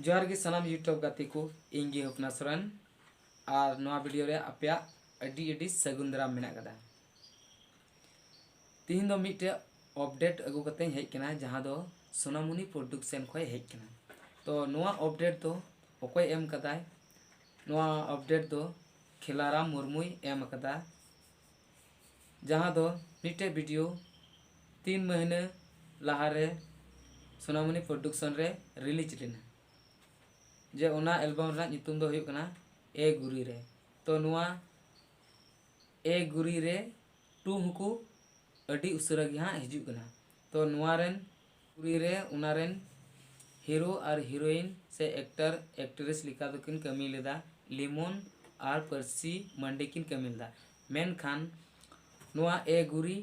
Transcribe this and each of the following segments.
ᱡᱚᱦᱟᱨ ᱜᱮ ᱥᱟᱱᱟᱢ ᱤᱭᱩᱴᱩᱵᱽ ᱜᱟᱛᱮ ᱠᱚ ᱤᱧ ᱜᱮ ᱦᱚᱯᱱᱟ ᱥᱚᱨᱮᱱ ᱟᱨ ᱱᱚᱣᱟ ᱵᱷᱤᱰᱤᱭᱳ ᱨᱮ ᱟᱯᱮᱭᱟᱜ ᱟᱹᱰᱤ ᱟᱹᱰᱤ ᱥᱟᱹᱜᱩᱱ ᱫᱟᱨᱟᱢ ᱢᱮᱱᱟᱜ ᱟᱠᱟᱫᱟ ᱛᱤᱦᱤᱧ ᱫᱚ ᱢᱤᱫᱴᱮᱡ ᱚᱯᱰᱮᱴ ᱟᱹᱜᱩ ᱠᱟᱛᱮᱧ ᱦᱮᱡ ᱟᱠᱟᱱᱟ ᱡᱟᱦᱟᱸ ᱫᱚ ᱥᱳᱱᱟᱢᱩᱱᱤ ᱯᱨᱚᱰᱩᱠᱥᱮᱱ ᱠᱷᱚᱡ ᱦᱮᱡ ᱟᱠᱟᱱᱟ ᱛᱚ ᱱᱚᱣᱟ ᱚᱯᱰᱮᱴ ᱫᱚ ᱚᱠᱚᱭ ᱮᱢ ᱟᱠᱟᱫᱟᱭ ᱱᱚᱣᱟ ᱚᱯᱰᱮᱴ ᱫᱚ ᱠᱷᱮᱞᱟᱨᱟᱢ ᱢᱩᱨᱢᱩᱭ ᱮᱢ ᱟᱠᱟᱫᱟ ᱡᱟᱦᱟᱸ ᱫᱚ ᱢᱤᱫᱴᱮᱡ ᱵᱷᱤᱰᱤᱭᱳ ᱛᱤᱱ ᱢᱟᱹᱦᱱᱟᱹ ᱞᱟᱦᱟᱨᱮ ᱥᱳᱱᱟᱢᱚᱱᱤ ᱯᱨᱚᱰᱩᱠᱥᱚᱱ ᱨᱮ ᱨᱤᱞᱤᱡᱽ ᱞᱮᱱᱟ ᱡᱮ ᱚᱱᱟ ᱮᱞᱵᱟᱢ ᱨᱮᱱᱟᱜ ᱧᱩᱛᱩᱢ ᱫᱚ ᱦᱩᱭᱩᱜ ᱠᱟᱱᱟ ᱮ ᱜᱩᱨᱤ ᱨᱮ ᱛᱚ ᱱᱚᱣᱟ ᱮ ᱜᱩᱨᱤ ᱨᱮ ᱴᱩ ᱦᱚᱸᱠᱚ ᱟᱹᱰᱤ ᱩᱥᱟᱹᱨᱟ ᱜᱮ ᱦᱟᱸᱜ ᱦᱤᱡᱩᱜ ᱠᱟᱱᱟ ᱛᱚ ᱱᱚᱣᱟ ᱨᱮᱱ ᱯᱩᱨᱤ ᱨᱮ ᱚᱱᱟ ᱨᱮᱱ ᱦᱤᱨᱳ ᱟᱨ ᱦᱤᱨᱳᱭᱤᱱ ᱥᱮ ᱮᱠᱴᱚᱨ ᱮᱠᱴᱨᱮᱥ ᱞᱮᱠᱟ ᱫᱚ ᱠᱤᱱ ᱠᱟᱹᱢᱤ ᱞᱮᱫᱟ ᱞᱤᱢᱚᱱ ᱟᱨ ᱯᱟᱹᱨᱥᱤ ᱢᱟᱹᱱᱰᱤ ᱠᱤᱱ ᱠᱟᱹᱢᱤ ᱞᱮᱫᱟ ᱢᱮᱱᱠᱷᱟᱱ ᱱᱚᱣᱟ ᱮ ᱜᱩᱨᱤ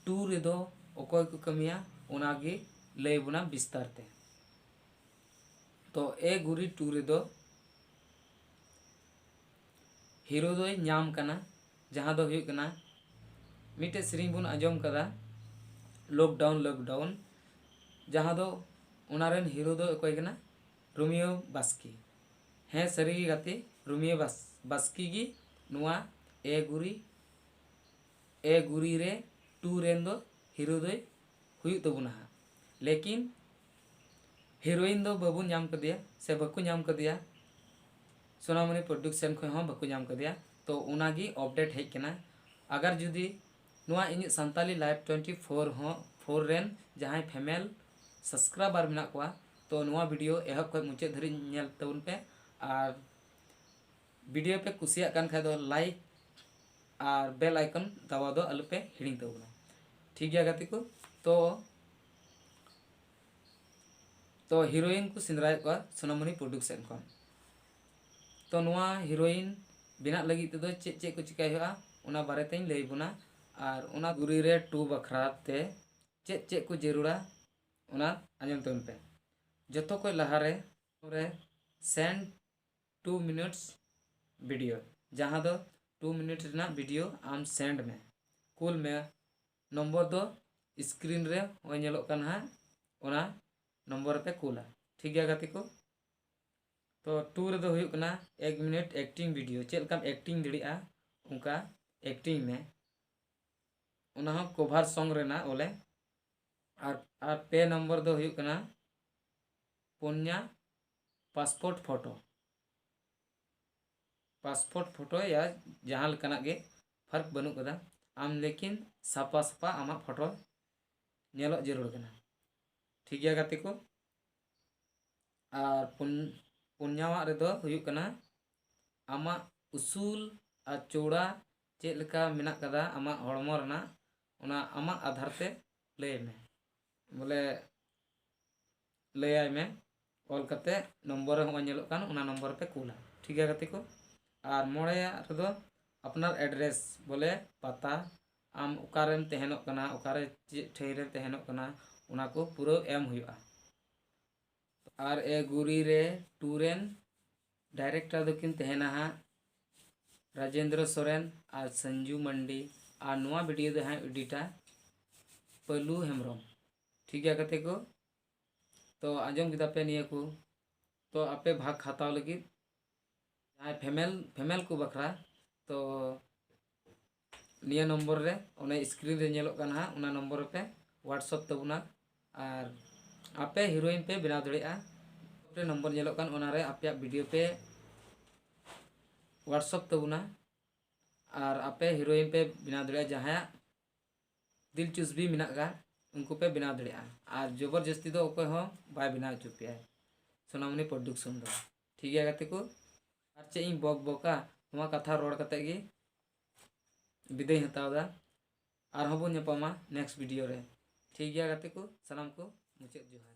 ᱴᱩ ᱨᱮᱫᱚ ᱚᱠᱚᱭ ᱠᱚ ᱠᱟᱹᱢᱤᱭᱟ ᱚᱱᱟ ᱜᱮ ᱞᱟᱹᱭ ᱵᱚᱱᱟ ᱵᱤᱥᱛᱟᱨ ᱛᱮ ᱛᱚ ᱮ ᱜᱩᱨᱤ ᱴᱩ ᱨᱮᱫᱚ ᱦᱤᱨᱳ ᱫᱚᱭ ᱧᱟᱢ ᱠᱟᱱᱟ ᱡᱟᱦᱟᱸ ᱫᱚ ᱦᱩᱭᱩᱜ ᱠᱟᱱᱟ ᱢᱤᱫᱴᱮᱡ ᱥᱮᱨᱮᱧ ᱵᱚᱱ ᱟᱸᱡᱚᱢ ᱠᱟᱫᱟ ᱞᱚᱠᱰᱟᱣᱩᱱ ᱞᱚᱠᱰᱟᱣᱩᱱ ᱡᱟᱦᱟᱸ ᱫᱚ ᱚᱱᱟ ᱨᱮᱱ ᱦᱤᱨᱳ ᱫᱚ ᱚᱠᱚᱭ ᱠᱟᱱᱟ ᱨᱳᱢᱤᱭᱳ ᱵᱟᱥᱠᱮ ᱦᱮᱸ ᱥᱟᱹᱨᱤ ᱜᱮ ᱜᱟᱛᱮ ᱨᱳᱢᱤᱭᱳ ᱵᱟᱥ ᱵᱟᱥᱠᱮ ᱜᱮ ᱱᱚᱣᱟ ᱮ ᱜᱩᱨᱤ ᱮ ᱜᱩᱨᱤ ᱨᱮ ᱴᱩ ᱨᱮᱱ ᱫᱚ ᱦᱤᱨᱳ ᱫᱚᱭ ᱦᱩᱭᱩᱜ ᱛᱟᱵᱚᱱᱟ ᱦᱟᱸᱜ ᱞᱮᱠᱤᱱ ᱦᱤᱨᱳᱭᱤᱱ ᱫᱚ ᱵᱟᱵᱚᱱ ᱧᱟᱢ ᱠᱟᱫᱮᱭᱟ ᱥᱮ ᱵᱟᱠᱚ ᱧᱟᱢ ᱠᱟᱫᱮᱭᱟ ᱥᱳᱱᱟᱢᱚᱱᱤ ᱯᱨᱚᱰᱩᱠᱥᱚᱱ ᱠᱷᱚᱱ ᱦᱚᱸ ᱵᱟᱠᱚ ᱧᱟᱢ ᱠᱟᱫᱮᱭᱟ ᱛᱚ ᱚᱱᱟ ᱜᱮ ᱚᱯᱰᱮᱴ ᱦᱮᱡ ᱠᱟᱱᱟ ᱟᱜᱟᱨ ᱡᱩᱫᱤ ᱱᱚᱣᱟ ᱤᱧᱟᱹᱜ ᱥᱟᱱᱛᱟᱞᱤ ᱞᱟᱭᱤᱵᱷ ᱴᱩᱭᱮᱱᱴᱤ ᱯᱷᱳᱨ ᱦᱚᱸ ᱯᱷᱳᱨ ᱨᱮᱱ ᱡᱟᱦᱟᱸᱭ ᱯᱷᱮᱢᱮᱞ ᱥᱟᱵᱥᱠᱨᱟᱭᱵᱟᱨ ᱢᱮᱱᱟᱜ ᱠᱚᱣᱟ ᱛᱚ ᱱᱚᱣᱟ ᱵᱷᱤᱰᱤᱭᱳ ᱮᱦᱚᱵ ᱠᱷᱚᱱ ᱢᱩᱪᱟᱹᱫ ᱫᱷᱟᱹᱨᱤᱡ ᱧᱮᱞ ᱛᱟᱵᱚᱱ ᱯᱮ ᱟᱨ ᱵᱷᱤᱰᱤᱭᱳ ᱯᱮ ᱠᱩᱥᱤᱭᱟᱜ ᱠᱟᱱ ᱠᱷᱟᱡ ᱫᱚ ᱞᱟᱭᱤᱠ ᱟᱨ ᱵᱮᱞ ᱟᱭᱠᱚᱱ ᱫᱟᱵᱟᱣ ᱫᱚ ᱟᱞᱚᱯᱮ ᱦᱤᱲᱤᱧ ᱛᱟᱵᱚᱱᱟ ᱴᱷᱤᱠ ᱜᱮᱭᱟ ᱜᱟᱛᱮ ᱠᱚ ᱛᱚ ᱛᱚ ᱦᱤᱨᱳᱭᱤᱱ ᱠᱚ ᱥᱮᱸᱫᱽᱨᱟᱭᱮᱫ ᱠᱚᱣᱟ ᱥᱳᱱᱟᱢᱩᱱᱤ ᱯᱨᱚᱰᱩᱠᱥᱮᱱ ᱠᱷᱚᱱ ᱛᱚ ᱱᱚᱣᱟ ᱦᱤᱨᱳᱭᱤᱱ ᱵᱮᱱᱟᱜ ᱞᱟᱹᱜᱤᱫ ᱛᱮᱫᱚ ᱪᱮᱫ ᱪᱮᱫ ᱠᱚ ᱪᱤᱠᱟᱹᱭ ᱦᱩᱭᱩᱜᱼᱟ ᱚᱱᱟ ᱵᱟᱨᱮ ᱛᱮᱧ ᱞᱟᱹᱭ ᱵᱚᱱᱟ ᱟᱨ ᱚᱱᱟ ᱜᱩᱨᱤ ᱨᱮ ᱴᱩ ᱵᱟᱠᱷᱨᱟ ᱛᱮ ᱪᱮᱫ ᱪᱮᱫ ᱠᱚ ᱡᱟᱹᱨᱩᱲᱟ ᱚᱱᱟ ᱟᱸᱡᱚᱢ ᱛᱟᱵᱚᱱ ᱯᱮ ᱡᱚᱛᱚ ᱠᱷᱚᱡ ᱞᱟᱦᱟ ᱨᱮ ᱨᱮ ᱥᱮᱱᱰ ᱴᱩ ᱢᱤᱱᱤᱴᱥ ᱵᱷᱤᱰᱤᱭᱳ ᱡᱟᱦᱟᱸ ᱫᱚ ᱴᱩ ᱢᱤᱱᱤᱴ ᱨᱮᱱᱟᱜ ᱵᱷᱤᱰᱤᱭᱳ ᱟᱢ ᱥᱮᱱᱰ ᱢᱮ ᱠᱩᱞ ᱢᱮ ᱱᱚᱢᱵᱚᱨ ᱫᱚ ᱥᱠᱨᱤᱱ ᱨᱮ ᱱᱚᱜᱼᱚᱭ ᱧᱮᱞᱚᱜ ᱠᱟᱱ ᱦᱟᱸᱜ ᱚᱱᱟ ᱱᱚᱢᱵᱚᱨ ᱨᱮᱯᱮ ᱠᱩᱞᱟ ᱴᱷᱤᱠ ᱜᱮᱭᱟ ᱜᱟᱛᱮ ᱠᱚ ᱛᱚ ᱴᱩ ᱨᱮᱫᱚ ᱦᱩᱭᱩᱜ ᱠᱟᱱᱟ ᱮᱠ ᱢᱤᱱᱤᱴ ᱮᱠᱴᱤᱝ ᱵᱷᱤᱰᱤᱭᱳ ᱪᱮᱫ ᱞᱮᱠᱟᱢ ᱮᱠᱴᱤᱝ ᱫᱟᱲᱮᱭᱟᱜᱼᱟ ᱚᱱᱠᱟ ᱮᱠᱴᱤᱝ ᱢᱮ ᱚᱱᱟ ᱦᱚᱸ ᱠᱚᱵᱷᱟᱨ ᱥᱚᱝ ᱨᱮᱱᱟᱜ ᱵᱚᱞᱮ ᱟᱨ ᱟᱨ ᱯᱮ ᱱᱚᱢᱵᱚᱨ ᱫᱚ ᱦᱩᱭᱩᱜ ᱠᱟᱱᱟ ᱯᱩᱱᱭᱟ ᱯᱟᱥᱯᱳᱨᱴ ᱯᱷᱳᱴᱳ ᱯᱟᱥᱯᱳᱨᱴ ᱯᱷᱳᱴᱳ ᱭᱟ ᱡᱟᱦᱟᱸ ᱞᱮᱠᱟᱱᱟᱜ ᱜᱮ ᱯᱷᱟᱨᱠ ᱵᱟᱹᱱᱩᱜ ᱟᱠᱟᱫᱟ ᱟᱢ ᱞᱮᱠᱤᱱ ᱥᱟᱯᱟ ᱥᱟᱯᱟ ᱟᱢᱟᱜ ᱯᱷᱚᱴᱚ ᱧᱮᱞᱚᱜ ᱡᱟᱹᱨᱩᱲ ᱠᱟᱱᱟ ᱴᱷᱤᱠ ᱜᱮᱭᱟ ᱜᱟᱛᱮ ᱠᱚ ᱟᱨ ᱯᱩᱱ ᱯᱩᱱᱭᱟᱣᱟᱜ ᱨᱮᱫᱚ ᱦᱩᱭᱩᱜ ᱠᱟᱱᱟ ᱟᱢᱟᱜ ᱩᱥᱩᱞ ᱟᱨ ᱪᱚᱣᱲᱟ ᱪᱮᱫ ᱞᱮᱠᱟ ᱢᱮᱱᱟᱜ ᱟᱠᱟᱫᱟ ᱟᱢᱟᱜ ᱦᱚᱲᱢᱚ ᱨᱮᱱᱟᱜ ᱚᱱᱟ ᱟᱢᱟᱜ ᱟᱫᱷᱟᱨ ᱛᱮ ᱞᱟᱹᱭ ᱢᱮ ᱵᱚᱞᱮ ᱞᱟᱹᱭᱟᱭ ᱢᱮ ᱚᱞ ᱠᱟᱛᱮ ᱱᱚᱢᱵᱚᱨ ᱨᱮ ᱦᱚᱸᱜᱼᱚᱭ ᱧᱮᱞᱚᱜ ᱠᱟᱱ ᱚᱱᱟ ᱱᱚᱢᱵᱚᱨ ᱨᱮᱯᱮ ᱠᱩᱞᱟ ᱴᱷᱤᱠ ᱜᱮᱭᱟ ᱜᱟᱛᱮ ᱠᱚ ᱟᱨ ᱢᱚᱬᱮᱭᱟᱜ ᱨᱮᱫᱚ ᱟᱯᱱᱟᱨ ᱮᱰᱨᱮᱥ ᱵᱚᱞᱮ ᱯᱟᱛᱟ ᱟᱢ ᱚᱠᱟᱨᱮᱢ ᱛᱟᱦᱮᱱᱚᱜ ᱠᱟᱱᱟ ᱚᱠᱟᱨᱮ ᱪᱮᱫ ᱴᱷᱟᱹᱭ ᱨᱮᱢ ᱛᱟᱦᱮᱱᱚᱜ ᱠᱟᱱᱟ ᱚᱱᱟ ᱠᱚ ᱯᱩᱨᱟᱹ ᱮᱢ ᱦᱩᱭᱩᱜᱼᱟ ᱟᱨ ᱮ ᱜᱩᱨᱤ ᱨᱮ ᱴᱩ ᱨᱮᱱ ᱰᱟᱭᱨᱮᱠᱴᱟᱨ ᱫᱚᱠᱤᱱ ᱛᱟᱦᱮᱱᱟ ᱦᱟᱸᱜ ᱨᱟᱡᱮᱱᱫᱨᱚ ᱥᱚᱨᱮᱱ ᱟᱨ ᱥᱚᱧᱡᱩ ᱢᱟᱱᱰᱤ ᱟᱨ ᱱᱚᱣᱟ ᱵᱷᱤᱰᱤᱭᱳ ᱫᱚ ᱦᱟᱸᱜ ᱮᱰᱤᱴᱟ ᱯᱟᱹᱞᱩ ᱦᱮᱢᱵᱨᱚᱢ ᱴᱷᱤᱠ ᱜᱮᱭᱟ ᱜᱟᱛᱮ ᱠᱚ ᱛᱚ ᱟᱸᱡᱚᱢ ᱠᱮᱫᱟ ᱯᱮ ᱱᱤᱭᱟᱹ ᱠᱚ ᱛᱚ ᱟᱯᱮ ᱵᱷᱟᱜᱽ ᱦᱟᱛᱟᱣ ᱞᱟᱹᱜᱤᱫ ᱡᱟᱦᱟᱸᱭ ᱯᱷᱮᱢᱮᱞ ᱯᱷᱮᱢᱮᱞ ᱠᱚ ᱵᱟᱠᱷᱨᱟ ᱛᱚ ᱱᱤᱭᱟᱹ ᱱᱚᱢᱵᱚᱨ ᱨᱮ ᱚᱱᱮ ᱥᱠᱨᱤᱱ ᱨᱮ ᱧᱮᱞᱚᱜ ᱠᱟᱱᱟ ᱦᱟᱸᱜ ᱚᱱᱟ ᱱᱚᱢᱵᱚᱨ ᱨᱮᱯᱮ ᱦᱳᱣᱟᱴᱥᱚᱯ ᱛᱟᱵᱚᱱᱟ ᱟᱨ ᱟᱯᱮ ᱦᱤᱨᱳᱭᱤᱱ ᱯᱮ ᱵᱮᱱᱟᱣ ᱫᱟᱲᱮᱭᱟᱜᱼᱟ ᱨᱮ ᱱᱚᱢᱵᱚᱨ ᱧᱮᱞᱚᱜ ᱠᱟᱱ ᱚᱱᱟᱨᱮ ᱟᱯᱮᱭᱟᱜ ᱵᱷᱤᱰᱤᱭᱳ ᱯᱮ ᱦᱳᱣᱟᱴᱥᱚᱯ ᱛᱟᱵᱚᱱᱟ ᱟᱨ ᱟᱯᱮ ᱦᱤᱨᱳᱭᱤᱱ ᱯᱮ ᱵᱮᱱᱟᱣ ᱫᱟᱲᱮᱭᱟᱜᱼᱟ ᱡᱟᱦᱟᱸᱭᱟᱜ ᱫᱤᱞ ᱪᱩᱥᱵᱤ ᱢᱮᱱᱟᱜ ᱠᱟᱜ ᱩᱱᱠᱩ ᱯᱮ ᱵᱮᱱᱟᱣ ᱫᱟᱲᱮᱭᱟᱜᱼᱟ ᱟᱨ ᱡᱚᱵᱚᱨ ᱡᱟᱹᱥᱛᱤ ᱫᱚ ᱚᱠᱚᱭ ᱦᱚᱸ ᱵᱟᱭ ᱵᱮᱱᱟᱣ ᱦᱚᱪᱚ ᱯᱮᱭᱟ ᱥᱳᱱᱟᱢᱩᱱᱤ ᱯᱨᱚᱰᱩᱠᱥᱚᱱ ᱫᱚ ᱴᱷᱤᱠ ᱜᱮᱭᱟ ᱜᱟᱛᱮ ᱠᱚ ᱟᱨ ᱪᱮᱫ ᱤᱧ ᱵᱚᱠ ᱵᱚᱠᱟ ᱱᱚᱣᱟ ᱠᱟᱛᱷᱟ ᱨᱚᱲ ᱠᱟᱛᱮ ᱜᱮ ᱵᱤᱫᱟᱹᱭ ᱦᱟᱛᱟᱣ ᱫᱟ ᱟᱨᱦᱚᱸ ᱵᱚᱱ ᱧᱟᱯᱟᱢᱟ ᱱᱮᱠᱥᱴ ᱵᱷᱤᱰᱤᱭᱳ ᱨᱮ ᱴᱷᱤᱠ ᱜᱮᱭᱟ ᱜᱟᱛᱮ ᱠᱚ ᱥᱟᱱᱟᱢ ᱠᱚ ᱢᱩᱪᱟᱹᱫ ᱡᱚᱦᱟᱨ